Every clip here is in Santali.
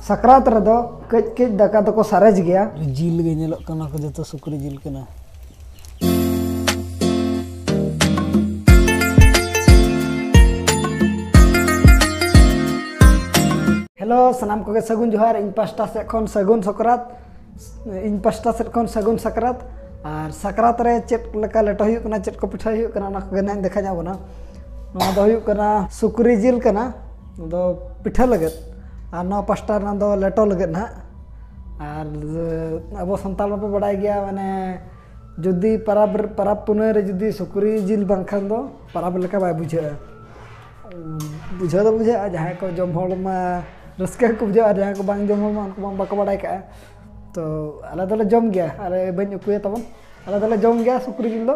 ᱥᱟᱠᱨᱟᱛ ᱨᱮᱫᱚ ᱠᱟᱹᱡ ᱠᱟᱹᱡ ᱫᱟᱠᱟ ᱫᱚᱠᱚ ᱥᱟᱨᱮᱡ ᱜᱮᱭᱟ ᱡᱤᱞ ᱜᱮ ᱧᱮᱞᱚᱜ ᱠᱟᱱᱟ ᱠᱚ ᱡᱚᱛᱚ ᱥᱩᱠᱨᱤ ᱡᱤᱞ ᱠᱟᱱᱟ ᱦᱮᱞᱳ ᱥᱟᱱᱟᱢ ᱠᱚᱜᱮ ᱥᱟᱹᱜᱩᱱ ᱡᱚᱦᱟᱨ ᱤᱧ ᱯᱟᱥᱴᱟ ᱥᱮᱫ ᱠᱷᱚᱱ ᱥᱟᱹᱜᱩᱱ ᱥᱟᱠᱨᱟᱛ ᱤᱧ ᱯᱟᱥᱴᱟ ᱥᱮᱫ ᱠᱷᱚᱱ ᱥᱟᱹᱜᱩᱱ ᱥᱟᱠᱨᱟᱛ ᱟᱨ ᱥᱟᱠᱨᱟᱛ ᱨᱮ ᱪᱮᱫ ᱞᱮᱠᱟ ᱞᱮᱴᱚ ᱦᱩᱭᱩᱜ ᱠᱟᱱᱟ ᱪᱮᱫ ᱠᱚ ᱯᱤᱴᱷᱟᱹ ᱦᱩᱭᱩᱜ ᱠᱟᱱᱟ ᱚᱱᱟ ᱠᱚᱜᱮ ᱱᱟᱦᱟᱜ ᱤᱧ ᱫᱮᱠᱷᱟ ᱧᱚᱜ ᱵᱚᱱᱟ ᱱᱚᱣᱟ ᱫᱚ ᱦᱩᱭᱩᱜ ᱠᱟᱱᱟ ᱥᱩᱠᱨᱤ ᱡᱤᱞ ᱠᱟᱱᱟ ᱫᱚ ᱯᱤᱴᱷᱟᱹ ᱞᱟᱹᱜᱤᱫ ᱟᱨ ᱱᱚᱣᱟ ᱯᱟᱥᱴᱟ ᱨᱮᱱᱟᱜ ᱫᱚ ᱞᱮᱴᱚ ᱞᱟᱹᱜᱤᱫ ᱱᱟᱦᱟᱜ ᱟᱨ ᱟᱵᱚ ᱥᱟᱱᱛᱟᱲ ᱢᱟᱯᱮ ᱵᱟᱰᱟᱭ ᱜᱮᱭᱟ ᱢᱟᱱᱮ ᱡᱩᱫᱤ ᱯᱟᱨᱟᱵᱽ ᱯᱟᱨᱟᱵᱽ ᱯᱩᱱᱟᱹᱭ ᱨᱮ ᱡᱩᱫᱤ ᱥᱩᱠᱨᱤ ᱡᱤᱞ ᱵᱟᱝᱠᱷᱟᱱ ᱫᱚ ᱯᱟᱨᱟᱵᱽ ᱞᱮᱠᱟ ᱵᱟᱭ ᱵᱩᱡᱷᱟᱹᱜᱼᱟ ᱵᱩᱡᱷᱟᱹᱣ ᱫᱚ ᱵᱩᱡᱷᱟᱹᱜᱼᱟ ᱡᱟᱦᱟᱸᱭ ᱠᱚ ᱡᱚᱢ ᱦᱚᱲ ᱢᱟ ᱨᱟᱹᱥᱠᱟᱹ ᱜᱮᱠᱚ ᱵᱩᱡᱷᱟᱹᱣᱟ ᱟᱨ ᱡᱟᱦᱟᱸᱭ ᱠᱚ ᱵᱟᱝ ᱡᱚᱢ ᱦᱚᱲ ᱢᱟ ᱩᱱᱠᱩ ᱢᱟ ᱵᱟᱠᱚ ᱵᱟᱰᱟᱭ ᱠᱟᱜᱼᱟ ᱛᱚ ᱟᱞᱮ ᱫᱚᱞᱮ ᱡᱚᱢ ᱜᱮᱭᱟ ᱟᱞᱮ ᱵᱟᱹᱧ ᱩᱠᱩᱭᱟ ᱛᱟᱵᱚᱱ ᱟᱞᱮ ᱫᱚᱞᱮ ᱡᱚᱢ ᱜᱮᱭᱟ ᱥᱩᱠᱨᱤ ᱡᱤᱞ ᱫᱚ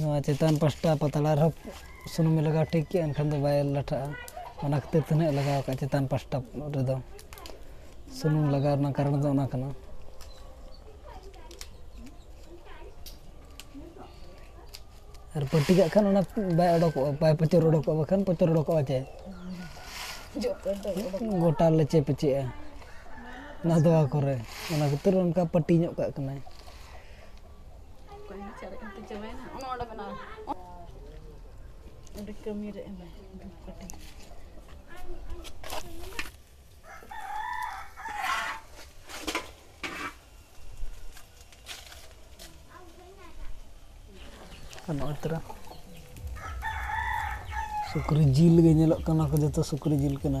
ᱱᱚᱣᱟ ᱪᱮᱛᱟᱱ ᱯᱟᱥᱴᱟ ᱯᱟᱛᱲᱟ ᱨᱮᱦᱚᱸ ᱥᱩᱱᱩᱢ ᱞᱟᱜᱟᱣ ᱴᱷᱤᱠ ᱠᱮᱜᱼᱟ ᱮᱱᱠᱷᱟᱱ ᱫᱚ ᱵᱟᱭ ᱞᱟᱴᱷᱟᱜᱼᱟ ᱚᱱᱟ ᱠᱷᱟᱹᱛᱤᱨ ᱛᱮ ᱱᱟᱦᱟᱜ ᱞᱟᱜᱟᱣ ᱠᱟᱜᱼᱟ ᱪᱮᱛᱟᱱ ᱯᱟᱥᱴᱟ ᱨᱮᱫᱚ ᱥᱩᱱᱩᱢ ᱞᱟᱜᱟᱣ ᱨᱮᱱᱟᱜ ᱠᱟᱨᱚᱱ ᱫᱚ ᱚᱱᱟ ᱠᱟᱱᱟ ᱟᱨ ᱯᱟᱹᱴᱤ ᱠᱟᱜ ᱠᱷᱟᱱ ᱚᱱᱟ ᱵᱟᱭ ᱚᱰᱚᱠᱚᱜᱼᱟ ᱵᱟᱭ ᱯᱚᱪᱚᱨ ᱚᱰᱚᱠᱚᱜᱼᱟ ᱵᱟᱠᱷᱟᱱ ᱯᱚᱪᱚᱨ ᱚᱰᱚᱠᱚᱜᱼᱟ ᱪᱮ ᱜᱚᱴᱟ ᱞᱮᱪᱮ ᱯᱮᱪᱮᱜᱼᱟ ᱱᱟᱫᱣᱟ ᱠᱚᱨᱮ ᱚᱱᱟ ᱠᱷᱟᱹᱛᱤᱨ ᱚᱱᱠᱟ ᱯᱟᱹᱴᱤ ᱧᱚᱜ ᱠᱟᱜ ᱠᱟᱱᱟᱭ ᱟᱹᱰᱤ ᱠᱟᱹᱢᱤᱨᱮ ᱮᱢᱟᱭ ᱫᱷᱩᱯᱠᱟᱹᱴᱷᱤ ᱟᱨ ᱱᱚᱜᱼᱚᱭ ᱛᱚᱨᱟ ᱥᱩᱠᱨᱤ ᱡᱤᱞ ᱜᱮ ᱧᱮᱞᱚᱜ ᱠᱟᱱᱟ ᱠᱚ ᱡᱚᱛᱚ ᱥᱩᱠᱨᱤ ᱡᱤᱞ ᱠᱟᱱᱟ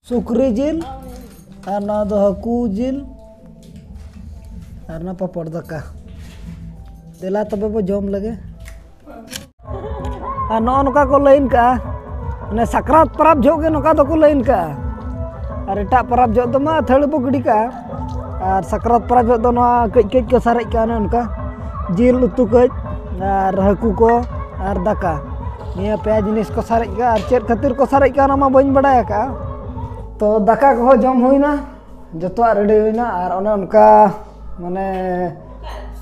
ᱥᱩᱠᱨᱤ ᱡᱤᱞ ᱟᱨ ᱱᱚᱣᱟ ᱫᱚ ᱦᱟᱹᱠᱩ ᱡᱤᱞ ᱟᱨ ᱱᱚᱣᱟ ᱯᱟᱯᱚᱲ ᱫᱟᱠᱟ ᱫᱮᱞᱟ ᱛᱚᱵᱮ ᱵᱚ ᱡᱚᱢ ᱞᱮᱜᱮ ᱟᱨ ᱱᱚᱜᱼᱚ ᱱᱚᱝᱠᱟ ᱠᱚ ᱞᱟᱹᱭᱤᱱ ᱠᱟᱜᱼᱟ ᱢᱟᱱᱮ ᱥᱟᱠᱨᱟᱛ ᱯᱚᱨᱚᱵᱽ ᱡᱚᱦᱚᱜ ᱜᱮ ᱱᱚᱝᱠᱟ ᱫᱚᱠᱚ ᱞᱟᱹᱭᱤᱱ ᱠᱟᱜᱼᱟ ᱟᱨ ᱮᱴᱟᱜ ᱯᱚᱨᱚᱵᱽ ᱡᱚᱦᱚᱜ ᱫᱚ ᱢᱟ ᱟᱹᱛᱷᱟᱹᱲᱤ ᱵᱚ ᱜᱤᱰᱤ ᱠᱟᱜᱼᱟ ᱟᱨ ᱥᱟᱠᱨᱟᱛ ᱯᱚᱨᱚᱵᱽ ᱡᱚᱦᱚᱜ ᱫᱚ ᱱᱚᱣᱟ ᱠᱟᱹᱡ ᱠᱟᱹᱡ ᱠᱚ ᱥᱟᱨᱮᱡ ᱠᱟᱜᱼᱟ ᱚᱱᱮ ᱚᱱᱠᱟ ᱡᱤᱞ ᱩᱛᱩ ᱠᱟᱹᱡ ᱟᱨ ᱦᱟᱹᱠᱩ ᱠᱚ ᱟᱨ ᱫᱟᱠᱟ ᱱᱤᱭᱟᱹ ᱯᱮᱭᱟ ᱡᱤᱱᱤᱥ ᱠᱚ ᱥᱟᱨᱮᱡ ᱠᱟᱜᱼᱟ ᱟᱨ ᱪᱮᱫ ᱠᱷᱟᱹᱛᱤᱨ ᱠᱚ ᱥᱟᱨᱮᱡ ᱠᱟᱜᱼᱟ ᱚᱱᱟ ᱢᱟ ᱵᱟᱹᱧ ᱵᱟᱰᱟᱭ ᱟᱠᱟᱫᱼᱟ ᱛᱚ ᱫᱟᱠᱟ ᱠᱚᱦᱚᱸ ᱡᱚᱢ ᱦᱩᱭᱱᱟ ᱡᱚᱛᱚᱣᱟᱜ ᱨᱮᱰᱤ ᱦᱩᱭᱱᱟ ᱟᱨ ᱚᱱᱮ ᱚᱱᱠᱟ ᱢᱟᱱᱮ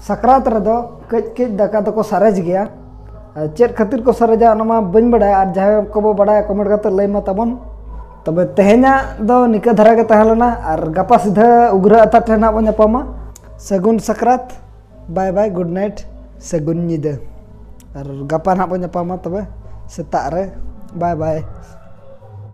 ᱥᱟᱠᱨᱟᱛ ᱨᱮᱫᱚ ᱠᱟᱹᱡ ᱠᱟᱹᱡ ᱫᱟᱠᱟ ᱫᱚᱠᱚ ᱥᱟᱨᱮᱡ ᱜᱮᱭᱟ ᱪᱮᱫ ᱠᱷᱟᱹᱛᱤᱨ ᱠᱚ ᱥᱟᱨᱮᱡᱟ ᱚᱱᱟ ᱢᱟ ᱵᱟᱹᱧ ᱵᱟᱰᱟᱭᱟ ᱟᱨ ᱡᱟᱦᱟᱸᱭ ᱠᱚᱵᱚ ᱵᱟᱰᱟᱭᱟ ᱠᱚᱢᱮᱱᱴ ᱠᱟᱛᱮᱫ ᱞᱟᱹᱭ ᱢᱮ ᱛᱟᱵᱚᱱ ᱛᱚᱵᱮ ᱛᱮᱦᱮᱧᱟᱜ ᱫᱚ ᱱᱤᱠᱟᱹ ᱫᱷᱟᱨᱟ ᱜᱮ ᱛᱟᱦᱮᱸ ᱞᱮᱱᱟ ᱟᱨ ᱜᱟᱯᱟ ᱥᱤᱫᱷᱟᱹ ᱩᱜᱽᱨᱟᱹ ᱟᱛᱟ ᱴᱷᱮᱱ ᱦᱟᱸᱜ ᱵᱚᱱ ᱧᱟᱯᱟᱢᱟ ᱥᱟᱹᱜᱩᱱ ᱥᱟᱠᱨᱟᱛ ᱵᱟᱭ ᱵᱟᱭ ᱜᱩᱰ ᱱᱟᱭᱤᱴ ᱥᱟᱹᱜᱩᱱ ᱧᱤᱫᱟᱹ ᱟᱨ ᱜᱟᱯᱟ ᱦᱟᱸᱜ ᱵᱚᱱ ᱧᱟᱯᱟᱢᱟ ᱛᱚᱵᱮ ᱥᱮᱛᱟᱜ ᱨᱮ ᱵᱟᱭ ᱵᱟᱭ